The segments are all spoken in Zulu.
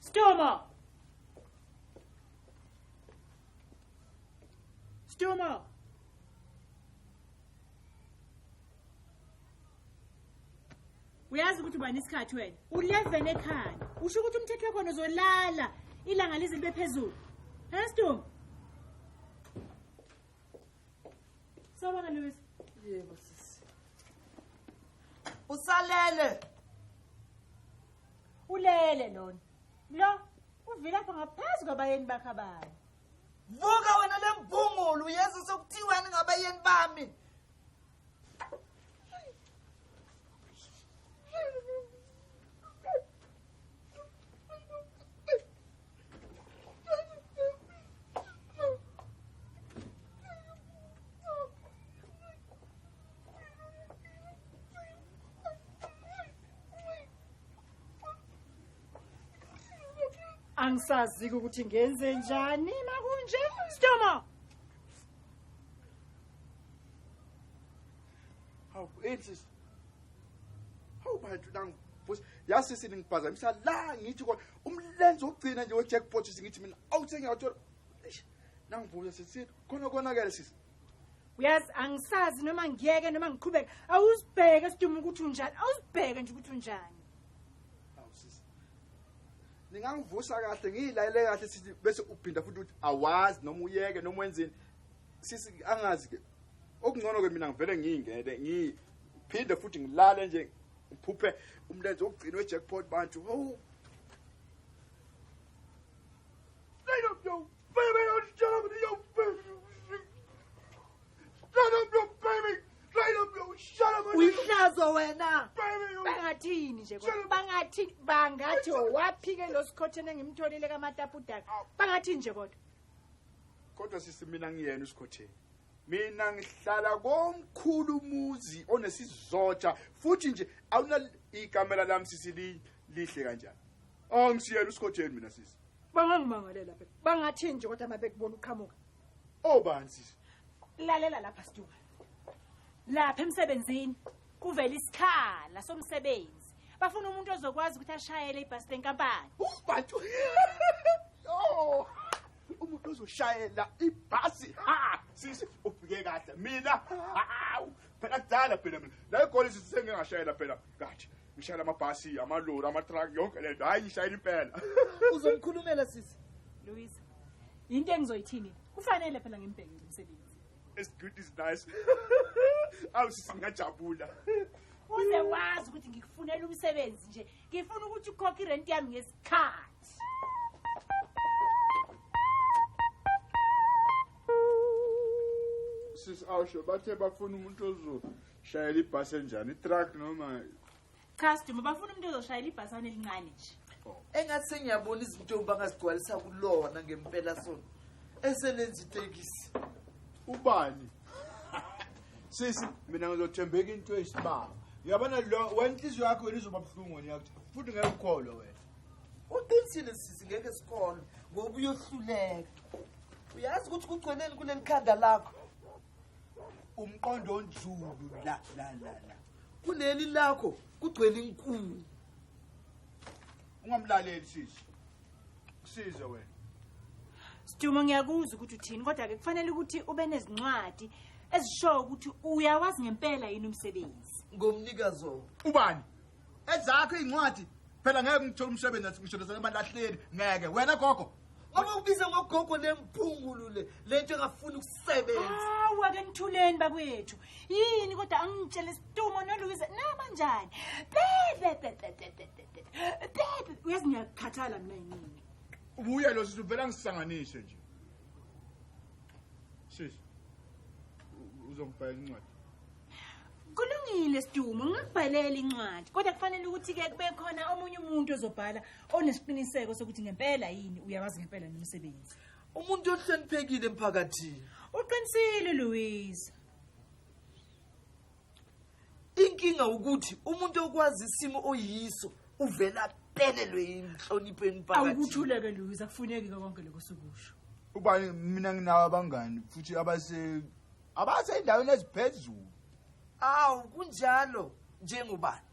Stoma! Stoma! uyazi ukuthi ubani isikhathi wena u-leven ekhaya usho ukuthi umthetho wakhona uzolala ilanga lize libe phezulu hestom sawubona lewis yebo sisi usalele ulele lona lo uvilapha ngaphezu kwabayeni bakhe abanye vuka wena le mbhungulu yesu sokuthiwani ngabayeni bami angisaziki ukuthi ngenze njani makunje stoma hawu ensis hawu bantu nangu futhi yasisi ningiphazamisa la ngithi kodwa umlenze wokugcina nje wejackpot sisi ngithi mina awuthenge wathola Eish, nangibuya sisini khona konakele sisi uyazi angisazi noma ngiyeke noma ngiqhubeke awusibheke siduma ukuthi unjani awusibheke nje ukuthi unjani awu sisi ningangivusa kahle ngiyilayele kahle sisi bese uphinda futhi ukuthi awazi noma uyeke noma wenzeni sisi angazi ke okungcono ke mina ngivele ngiyingene ngiphinde futhi ngilale nje uphuphe umlenze wokugcina wejackpot bantu hawu uyihlazo wena bangathini nje bangathi bangathi waphike lo sikhotheni engimtholile kamatapudaka bangathini nje kodwa kodwa sisi mina ngiyena usikhotheni mina ngihlala komkhulu umuzi onesizotsha futhi nje awuna ikamela lami sisi li- lihle kanjani oh ngisiyela usikotsheni mina sisi bangangimangalela phela bangathi nje kodwa uma bekubona uqhamuka obani sisi lalela lapha stuka lapha emsebenzini kuvela isikhala somsebenzi bafuna umuntu ozokwazi ukuthi ashayele ibhasi lenkampani ubantu oh umuntu ozoshayela ibhasi ha sisi ufike kahle mina hawu phela kudala phela mina la igoli sisengingashayela phela kathi ngishayela amabhasi amalori amatruck yonke le nto hhayi ngishayela impela uzomkhulumela sisi luisa yinto engizoyithini kufanele phela ngimbheke nje umsebenzi as good is nice awu sisi ngingajabula uze wazi ukuthi ngikufunela umsebenzi nje ngifuna ukuthi ukhokhe irenti yami ngesi sis awusho bathe bafuna umuntu ozoshayela ibhasi enjani itruck noma cha sidumo bafuna umuntu ozoshayela ibhasana elincane nje oh. engathi sengiyabona izinto bangazigcwalisa kulona ngempela sona eselenza itekisi ubani sisi mina ngizothembeka into eyisibaba uyabona lo wena inhliziyo yakho wena izoba buhlungu wena yakuthi futhi ngeke ukholwe wena uqinisile sisi ngeke sikholwe ngoba uyohluleka uyazi ukuthi kugcweneni kuleli khanda lakho umqondo onjulu la la la la kuleli lakho kugcwele inkulu ungamlaleli sisi kusize wena Sidumo ngiyakuzwa ukuthi uthini kodwa ke kufanele ukuthi ube nezincwadi ezishoyo ukuthi uyawazi ngempela yini umsebenzi ngomnikazi wo ubani ezakho izincwadi phela ngeke ngithola umsebenzi athi ngishonisa abalahleli ngeke wena gogo abakubiza ngogogo nemphungulu le lento engafuni ukusebenza hawu ake nithuleni bakwethu yini kodwa angitshele isitumo noluyize nabanjani bebebebebebe Bebe, uyazi ngiyakukhathala mina yini? Ubuye lo sisi uvela ngisanganise nje. Sisi. Uzongibhala incwadi. Kulungile Sidumo, ngingakubhalela incwadi. Kodwa kufanele ukuthi ke kube khona omunye umuntu ozobhala onesiqiniseko sokuthi ngempela yini uyawazi ngempela nomsebenzi. Umuntu ohloniphekile emphakathini. Uqinisile Louise. inkinga ukuthi umuntu okwazi isimo oyiso uvela pelelwe yinhlonipho emphakathini awukuthuleke Louise akufuneki konke lokho sokusho uba mina nginawo abangani futhi abase abasendaweni eziphezulu awu kunjalo njengobani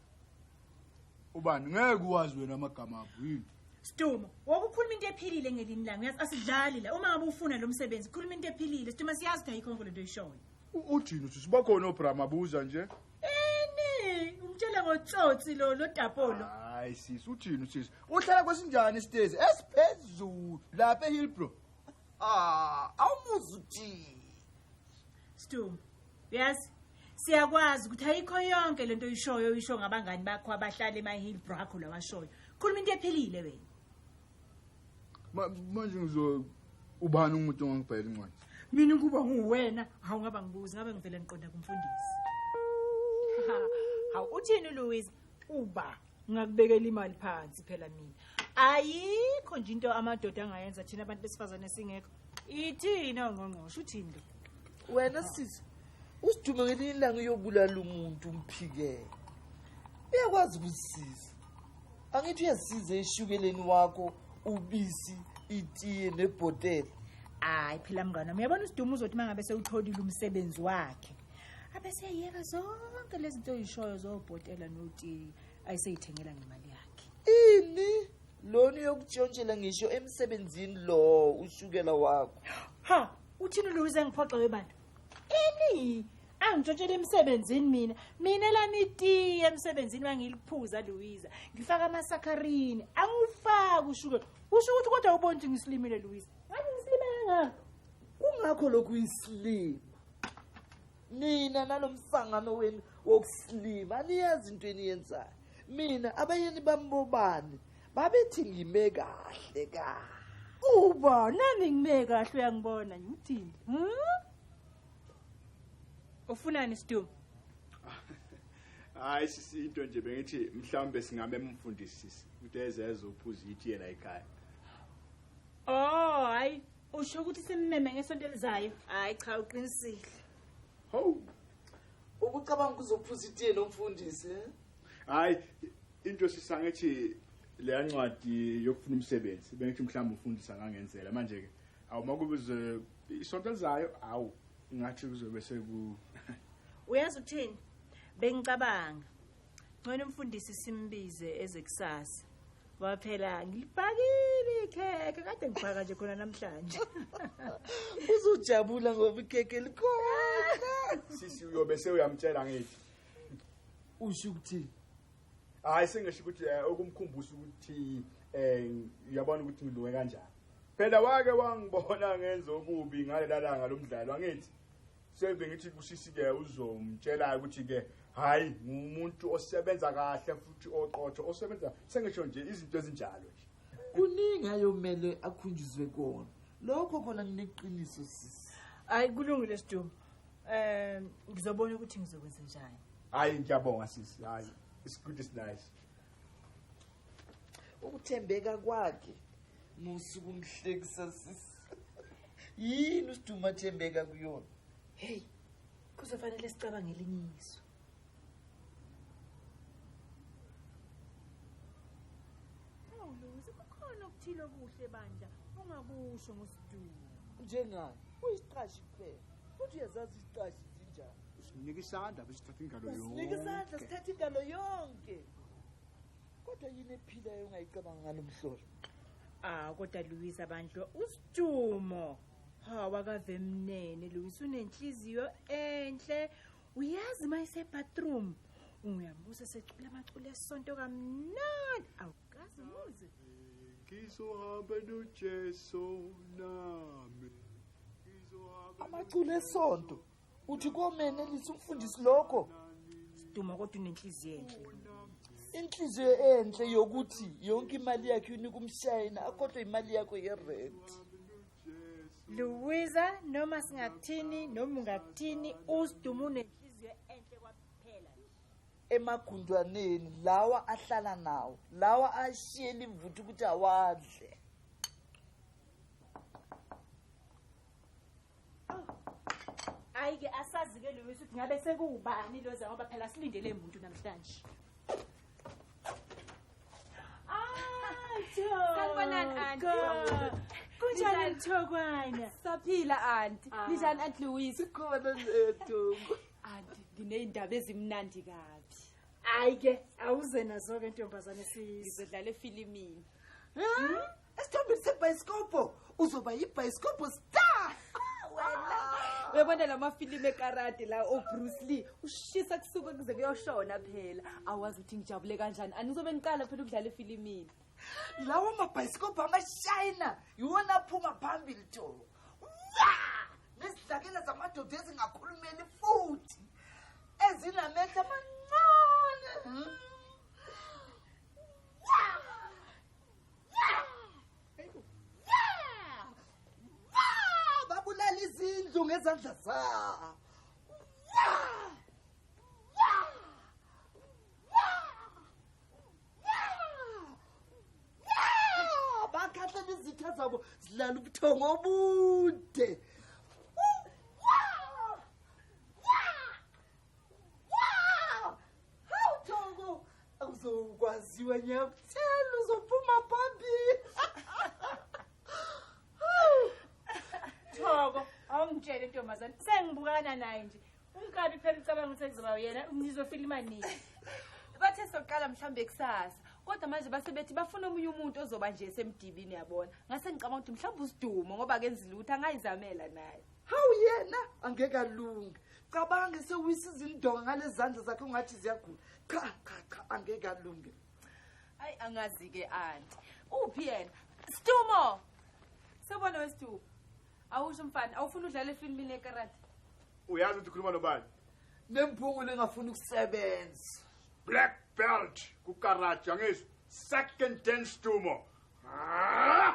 ubani ngeke uwazi wena amagama apho yini Stumo, wokukhuluma into ephilile ngelini lami. Uyazi asidlali la. Uma ngabe ufuna lo msebenzi, khuluma into ephilile. Stumo siyazi ukuthi ayikho nkonto oyishoyo. Ujini uthi sibakhona obrama buza nje. Eni, umtshele ngotsotsi lo lodapolo. Hayi sisi ujini sisi. Uhlala kwesinjani isitezi esiphezulu lapha eHillbrow. Ah, awumuzi ujini. Stu. Yes. Siyakwazi ukuthi ayikho yonke lento oyishoyo oyisho ngabangani bakho abahlala eMahillbrow akho lawashoyo. Khuluma into ephelile wena. manje ngizo ubani umuntu ongangibhayela incwadi mina ukuba nguwena hawu ngaba ngibuzi ngabe ngivele ngiqonda kumfundisi hawu uthini louis uba ngakubekela imali phansi phela mina ayikho nje into amadoda angayenza thina abantu besifazane singekho ithina ongqongqosho uthini lo wena sisi usidume ngelinye ilanga uyobulala umuntu umphikele uyakwazi ukuzisiza angithi uyasiza eshukeleni wakho ubisi itiye nebhotela hayi phela mngane uyabona usidumo uzothi uma ngabe sewutholile umsebenzi wakhe abeseyeka zonke lezi nto oyishoyo zobhotela notiye ayiseyithengela ngemali yakhe ini lona uyokutshontshela ngisho emsebenzini lo ushukela wakho ha uthini lo uze ngiphoxa webantu ini angitshotshela emsebenzini mina mina lami itiye emsebenzini wangiliphuza luwiza ngifaka amasakharini angiwufaki ushukela usho ukuthi kodwa ubona ukuthi ngisilimile luwiza ngabe ngisilime kangaka kungakho lokhu isilima nina nalo msangano wenu wokusilima aniyazi into eniyenzayo mina abayeni bambobani babethi ngime kahle ka uba nami ngime kahle uyangibona ngithini hmm? ufunani stum hayi sisi into nje bengithi mhlawumbe singabe mfundisisi ukuthi ezeze uphuza ithi yela ekhaya oh hayi usho ukuthi simmeme ngesonto elizayo hayi cha uqinisile ho ukucabanga ukuzophuza itiye nomfundisi eh? hayi into sisangethi leya ncwadi yokufuna umsebenzi bengithi mhlawumbe ufundisa ngangenzela manje-ke awumakubize isonto elizayo hawu ngathi kuzobe seku uyazi ukuthini bengicabanga ngcono umfundisi simbize eze kusasa ngoba phela ngilibhakile ikhekhe kade ngibhaka nje khona namhlanje uzojabula ngoba ikhekhe likhona sisi uyobe sewuyamtshela ngithi usho ukuthi hayi sengisho ukuthi eh, okumkhumbusa ukuthi um uyabona ukuthi ngilunge kanjani Phela wake wangibona ngenza okubi ngalelalanga lomdlalo angithi seyibe ngithi kusisi ke uzomtshela ukuthi ke hayi ngumuntu osebenza kahle futhi oqotho osebenza sengisho nje izinto ezinjalo nje kuningi ayomele akhunjuzwe kona lokho khona ngineqiniso sisi hayi kulungile sidumbu um ngizobona ukuthi ngizokwenza njani hayi ngiyabonga sisi hayi isigudi sinayo ukuthembeka kwakhe musa ukumhlekisa sisi yini usiduma athembeka kuyona heyi kuzofanele sicabangele inyiso awuluzi kukhona okuthile okuhle bandla ungakusho ngosiduma njengani uyisiqashi kuphela futhi uyazazi iziqashi zinjani usinika isandla besithatha ingalo yonke usinika isandla sithatha ingalo yonke kodwa yini ephilayo ungayicabanga ngalo mhlolo ah kodwa luwisa bandlo usidumo ha wakavemnene luwisa unenhliziyo enhle uyazi uma isebathroom unguyamusa secula amacula esonto kamnani awukazi muzi ngizohamba nojesu nami amaculo esonto uthi komenelisa umfundisi lokho siduma kodwa unenhliziyo enhle inhliziyo enhle yokuthi yonke imali yakhe unika umshayina akhohlwe imali yakho yerenti luwiza noma singathini noma ungathini usiduma unenhliziyo enhle kwaphela emagundwaneni lawa ahlala nawo lawa ashiyela imvuthu ukuthi awadle Ayike asazi ke Lewis ukuthi ngabe sekuwubani loza ngoba phela silindele umuntu namhlanje. Ah, Sanibonani, auntie. Kunjani mthokwana? Saphila auntie. Ah. Ninjani aunt Louise? Sikhona zethu. Auntie, nginezindaba ezimnandi kabi. Ayike, awuze nazo ke ntombazane sisi. Ngizodlala efilimini. Hmm? esithombeni sebhayisikobho uzoba yibhayisikobho star uyabona la mafilimu ekarati la obruce lee ushisa kusuke kuze kuyoshona phela awazi ukuthi ngijabule kanjani anizobe niqala phela ukudlala efilimini lawo mabhayisikobho amashayina yiwona aphuma phambili too wa nezidlakela zamadoda ezingakhulumeli futhi ezinamehla amancane babulala izindlu ngezandla zabo bakhahlana izitha zabo zilala ubuthongo obude uzokwaziwa ngiyakuthela uzophuma phambili thoko awungitshele ntombazane sengibukana naye nje unkabi phela ucabanga ukuthi kuzoba yena nizofila imanini bathe soqala mhlawumbe kusasa kodwa manje base bethi bafuna omunye umuntu ozoba nje semdibini yabona ngase ngicabanga ukuthi mhlawumbe usidumo ngoba kenzi lutho angayizamela naye hawu yena angeke alunge cabange sewisa izindonga ngalezandla zakhe ungathi ziyagula cha cha cha angeke alunge ayi angazi ke anti uphi yena stumo sobona westumo awusho mfana awufuna udlala efilmini yekarate uyazi ukuthi ukhuluma nobani nemphungu lengafuni ukusebenza black belt kukarate angizwa second dance stumo ah!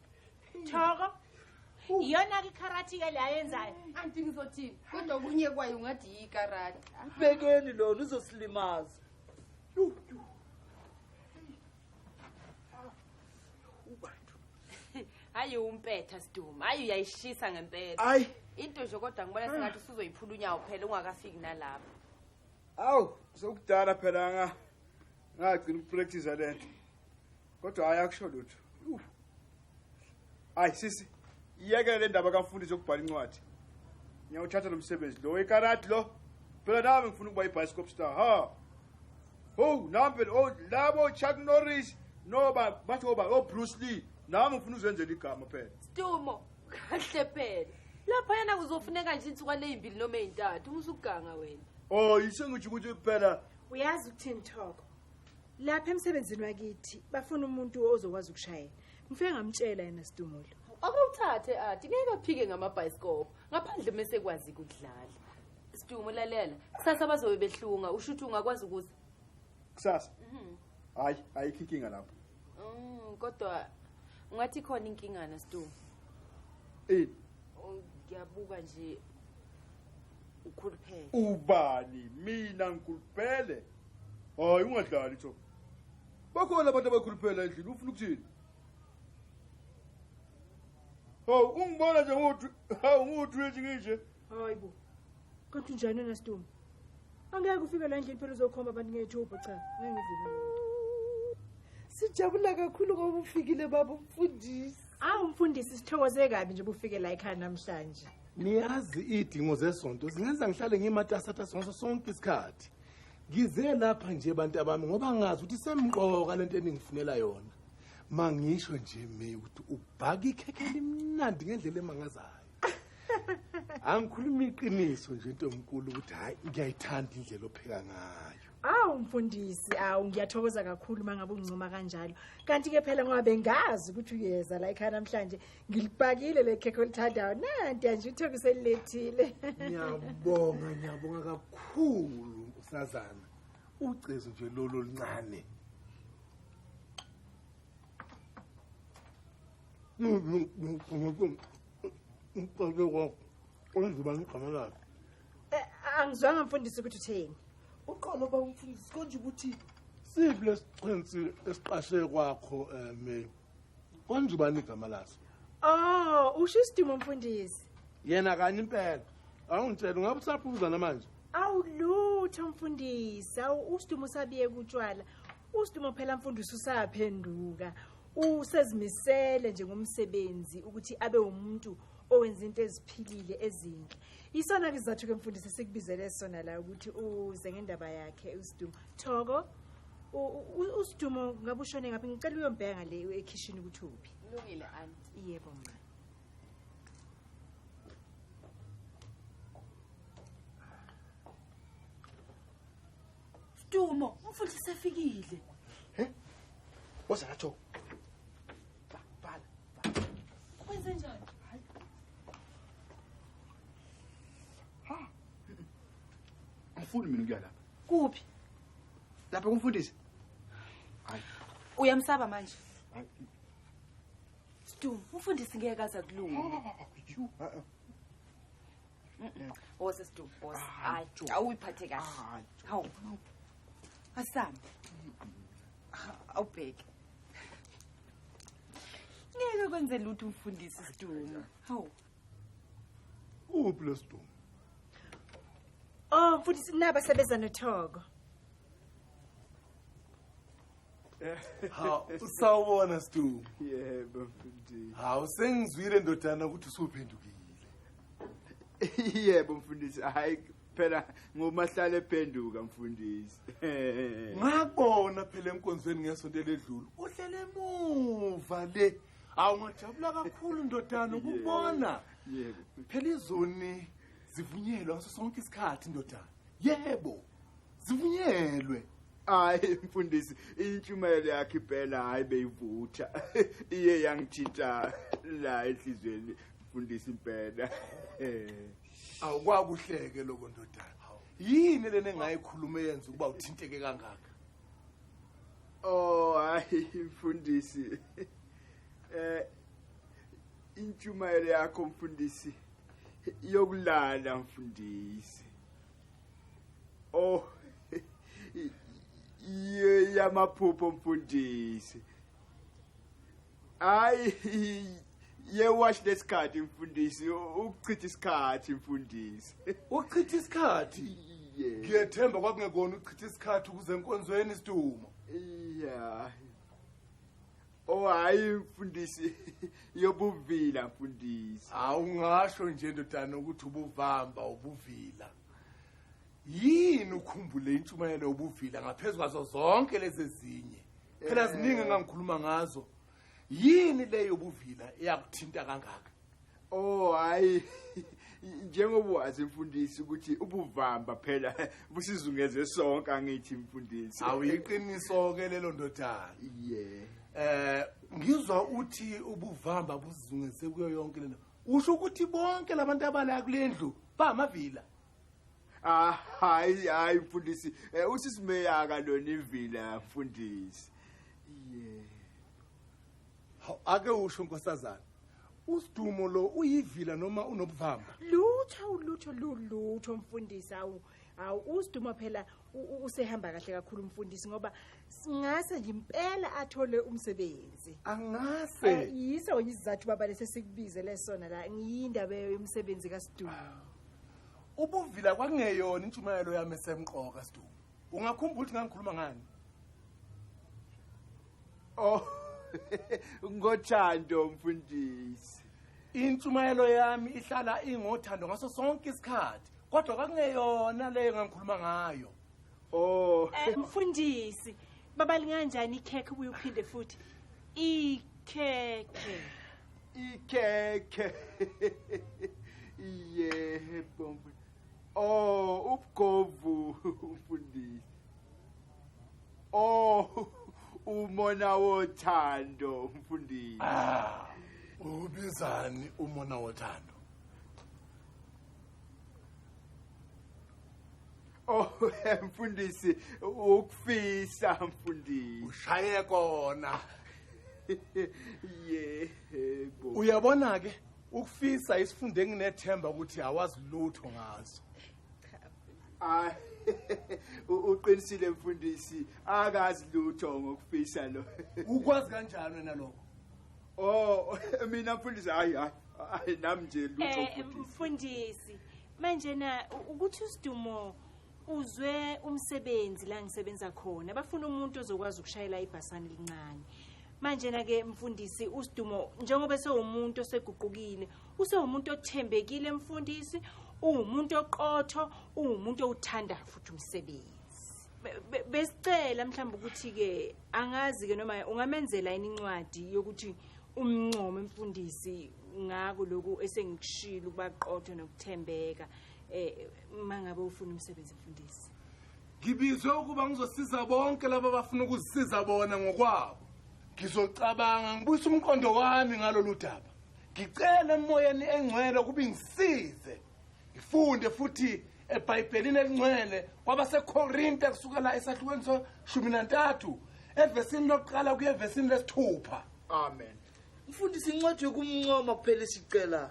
thoko iyona-ke ikharati-ke le ayenzayo anti ngizothini kodwa okunye kwayo ungathi yikarati bekeni lona uzosilimaza hayi umpetha siduma hayi uyayishisa ngempela hayi into nje kodwa ngibona sengathi usuzoyiphula unyawo phela ungakafiki nalapho awu sokudala phela nga ngagcina ukupractice le nto kodwa hayi akusho lutho hayi sisi iyeke le ndaba kamfundisi yokubhala incwadi ngiyawuthatha lo msebenzi lo ikarati lo phela nami ngifuna ukuba ibhayisikop star ha ho nami phela oh, labo chuck norris noba bathi oba oh, obruce oh, lee nami ngifuna uzenzela igama phela stumo kahle phela lapha yena kuzofuneka nje insukwane ezimbili noma ezintathu umusuganga wena oh yisengijho ukuthi phela uyazi ukuthini thoko lapha emsebenzini wakithi bafuna umuntu ozokwazi ukushayela ngifike ngamtshela yena sidumulo akawuthathe ati ngeke aphike ngamabhayisikobho ngaphandle uma esekwazi ukudlala sidumo lalela kusasa bazobe behlunga usho ukuthi ungakwazi ukuza kusasa mhm. hayi ayikho inkinga lapho mm, kodwa ungathi khona inkingana sidumo ini ngiyabuka nje ukhuluphele ubani mina ngikhuluphele hayi ungadlali tho bakhona abantu abakhuluphela endlini ufuna ukuthini hawu ungibona nje ngothi hawu ngothi nje ngishe hayi bo kodwa unjani wena stumbu angeke ufike la endlini phela uzokhomba abantu ngethuba cha ngeke ngivuma sijabula kakhulu ngoba ufikile baba umfundisi awu mfundisi sithokoze kabi nje bufike la ekhaya namhlanje niyazi iy'dingo zesonto zingenza ngihlale ngimatasatasa ngaso sonke isikhathi ngize lapha nje bantu abami ngoba ngazi ukuthi semqoka le nto eningifunela yona mangisho nje me ukuthi ubhaka ikhekhe elimnandi ngendlela emangazayo angikhuluma iqiniso nje into omkulu ukuthi hayi ngiyayithanda indlela opheka ngayo awu mfundisi awu ngiyathokoza kakhulu uma ngabe ungincoma kanjalo kanti-ke phela ngoba bengazi ukuthi uyeza la ekhaya namhlanje ngilibhakile le khekhe olithandayo nanti anje uthoka uselilethile ngiyabonga ngiyabonga kakhulu usazana ucezu nje lolu oluncane eh, angizwanga mfundisi ukuthi utheni uqolo bawumfundisi konje ukuthi siphi lesixhensi esiqashe kwakho um Konje ubani igama laso? Oh, usho isidimo mfundisi. Yena kanye impela. Awungitshela ungabe usaphuza namanje. Awulutho mfundisi, awu usidimo sabiye kutshwala. Usidimo phela mfundisi usaphenduka. Usezimisele nje ngomsebenzi ukuthi abe umuntu owenza into eziphilile ezinhle. Isona ke sizathu ke mfundisi sikubizele sona la ukuthi uze ngendaba yakhe usidimo. Thoko usidumo ngabe ushone ngaphi ngicela uyombheka ngale ekhishini ukuthi uphi kulungile anti yebo mma Dumo, umfundisi sefikile. He? Woza ngathi angifuni mina ukuya lapha kuphi lapha kumfundisi uyamsaba manje stum umfundisi ngeke aza kulunga oh, oh, oh, wose stum wose hayi awuyiphathe kahle hawu asami awubheke ngeke kwenze lutho umfundisi stum hawu uphi lesidumo oh mfundisi naba sebeza nothoko hawu usawubona sidumo yebo mfundisi hawu sengizwile ndodana ukuthi usuphendukile yebo mfundisi hayi phela ngomahlale phenduka mfundisi ngakubona phela enkonzweni ngesonto eledlule uhlele emuva le awu ngajabula kakhulu ndodana ukubona phela izoni zivunyelwe ngaso sonke isikhathi ndodana yebo zivunyelwe hayi mfundisi intshumayelo yakhe impela hayi beyivutha iye yangithinta la enhliziyweni mfundisi impela awukwakuhleke lokho ndodana yini lena engayikhuluma eyenza ukuba uthinteke kangaka Oh hayi mfundisi. Eh intshumayelo yakho mfundisi yokulala mfundisi. Oh yamaphupho mfundisi. hayi ye watch lesikhathi mfundisi ukuchitha isikhathi mfundisi ukuchitha isikhathi ngiyethemba kwakungekona ukuchitha isikhathi ukuze enkonzweni isidumo ya Oh hayi mfundisi yobuvila mfundisi. Awungasho nje ndodana ukuthi ubuvamba ubuvila. yini ukhumbule intshumayelo yobuvila ngaphezu kwazo zonke lezi ezinye phela eh. ziningi engangikhuluma ngazo yini le yobuvila eyakuthinta kangaka oh hayi njengoba wazi mfundisi ukuthi ubuvamba phela busizungeze sonke angithi mfundisi awuyiqiniso ke lelo ndodana yeah eh ngizwa uthi ubuvamba busizungeze kuyo yonke lento usho ukuthi bonke labantu abala kulendlu bamavila Ah, hayi hayi mfundisi eh, usisimeyaka lona ivila mfundisi yeah Haw, ake usho nkosazana usidumo lo uyivila noma unobuvamba lutho lutho lulutho mfundisi awu awu usidumo phela usehamba kahle kakhulu umfundisi ngoba singase nje impela athole umsebenzi angase eh, yiso yizathu baba lese sikubize lesona la ngiyindaba yomsebenzi kaSidumo ah. ubuvila kwangeyona intshumayelo yami esemqoka Sidumo ungakhumbula ukuthi ngangikhuluma ngani oh ngothando mfundisi intshumayelo yami ihlala ingothando ngaso sonke isikhathi kodwa kwakungeyona leyo ngangikhuluma ngayo oh eh, mfundisi baba linganjani ikhekhe ubuye uphinde futhi ikhekhe ikhekhe yebo oh ubugovu mfundisi oh umona wothando mfundisi ah, ubizani umona wothando Oh mfundisi ukufisa mfundisi. Ushaye kona. Yebo. Uyabona ke ukufisa isifunde nginethemba ukuthi awazi lutho ngazo. Ay uqinisile mfundisi akazi lutho ngokufisa lo. Ukwazi kanjani wena lokho? Oh mina mfundisi hayi hayi hayi nami nje lutho Eh mfundisi. mfundisi manje na u- ukuthi usidumo uzwe umsebenzi la ngisebenza khona bafuna umuntu ozokwazi ukushayela ibhasana elincane manje na ke mfundisi usidumo njengoba sewumuntu oseguqukile usewumuntu othembekile mfundisi uwumuntu oqotho uwumuntu owuthandayo futhi umsebenzi besicela mhlawumbe ukuthi-ke angazi-ke noma ungamenzela yini incwadi yokuthi umncome mfundisi ngako lokhu esengikushilo ukuba qotho nokuthembeka um uma ngabe ufuna umsebenzi mfundisi ngibizwe ukuba ngizosiza bonke laba abafuna ukusiza bona ngokwabo ngizocabanga ngibuyisa umqondo wami ngalolu daba ngicele emoyeni engcwele ukuba ingisize ngifunde futhi ebhayibhelini elingcwele kwabasekorinte kusukela esahlukweni soshumi nantathu evesini lokuqala kuye evesini lesithupha amen mfundisi incwadi yokumncoma kuphela isicelayo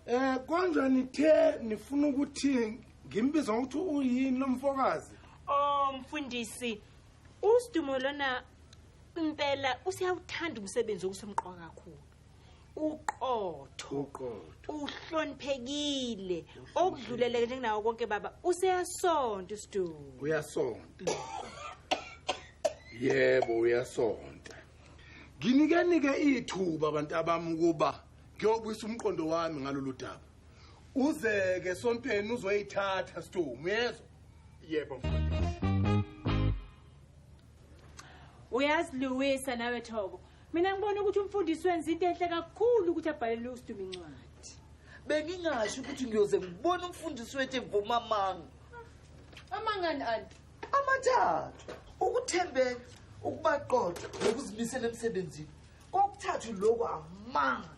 um eh, konjwa nithe nifuna ukuthi ngimbiza ngokuthi uyini lo mfokazi o oh, mfundisi usidumo lona impela usiyawuthanda umsebenzi okusemqoka kakhulu uqotho uqotho uhloniphekile okudluleleke njengenawo konke baba useyasonta usidumo uyasonta yebo uyasonta nginikenike ithuba abantu abami ukuba ngiyobuyisa umqondo wami ngalolu daba uzeke sontweni uzoyithatha sidumo uyezwa yebo mfundisi uyaziluwisa nawe thobo mina ngibona ukuthi umfundisi wenza into enhle kakhulu ukuthi abhalele usiduma incwadi bengingasho ukuthi ngiyoze ngibone umfundisi wethu evuma amanga amangani anti amathathu ukuthembeka ukubaqotha nokuzimisela emsebenzini kokuthathu lokhu amanga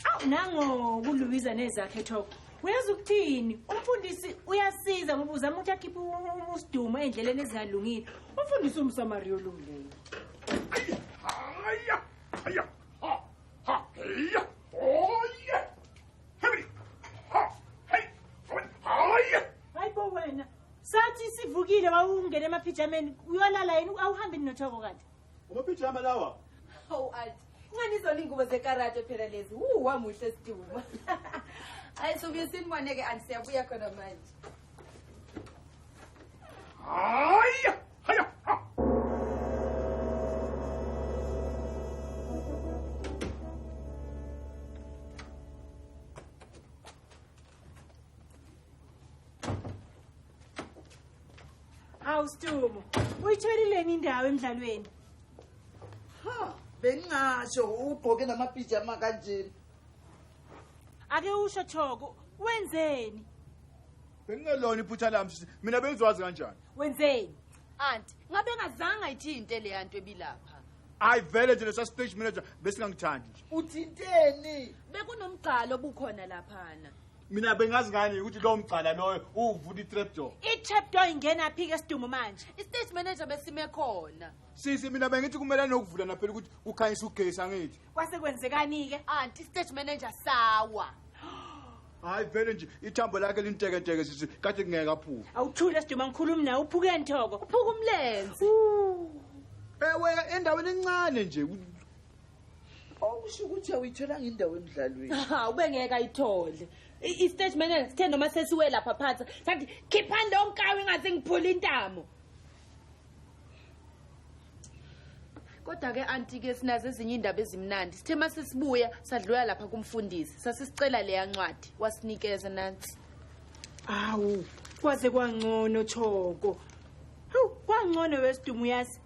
awu nangoku luwiza nezakhe thoko uyazi ukuthini umfundisi uyasiza ngoba uzama ukuthi akhiphe usidumo ey'ndleleni ezingalungile umfundisi umsamariya olungileyo haya haya ha ha heya oye hebri ha hey haya hayi bo wena sathi sivukile wawungena emaphijameni uyolala yini awuhambi ninothoko kanti Umapijama lawa. Hawu athi ncane izona ingubo zekarate phela lezi. Wu wamuhle siduma. Hayi sobuye siniboneke anti siyabuya khona manje. Hayi! Hayi! hawu stumo uyitholileni indawo emdlalweni ha bengingasho ugqoke namapijama kanjena ake usho thoko wenzeni bengingelona iphutha lami mina bengiziwazi kanjani wenzeni anti ngabe engazange ayithinte leya nto ebilapha ayi vele nje lesa stage manager besingangithandi nje uthinteni bekunomgqalo obukhona laphana mina bengazi ngani ukuthi lowo mgcala loyo uwuvula i-trap door i-trap door ingena phi ke sidumo manje i-stage manager besime khona sisi mina bengithi kumele nokuvula naphela ukuthi kukhanyisa ugesi angithi kwase kwenzekani-ke anti stage manager sawa hayi vele nje ithambo lakhe lintekenteke sisi kade kungeke aphuke awuthule siduma ngikhulumi nawe uphuke nthoko uphuka umlenze ewe endaweni encane nje okusho ukuthi awuyitholanga indawo emdlalweni ubengeke ayithole i-stage manager sithe noma sesiwe lapha phansi sathi khiphani lonkawo ingaze ngiphule intamo kodwa ke anti ke sinazo ezinye indaba ezimnandi sithe mase sibuya sadlula lapha kumfundisi sasisicela leya ncwadi wasinikeza nansi awu kwaze kwangcono choko hawu kwangcono wesidumo uyazi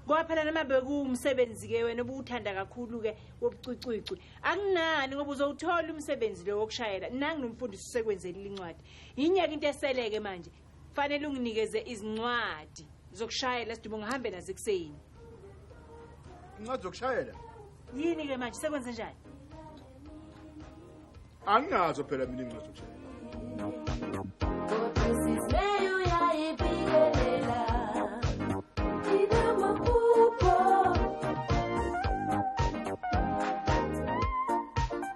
ngoba phela noma bekuwumsebenzi ke wena obuwuthanda kakhulu ke wobucwicwicwi akunani ngoba uzowuthola umsebenzi lo wokushayela nanginomfundisi usekwenzeli lincwadi yinyeke into eseleke manje fanele unginikeze izincwadi zokushayela sidubo ngihambe nazo ekuseni incwadi zokushayela yini ke manje sekwenze njani anginazo phela mina incwadi zokushayela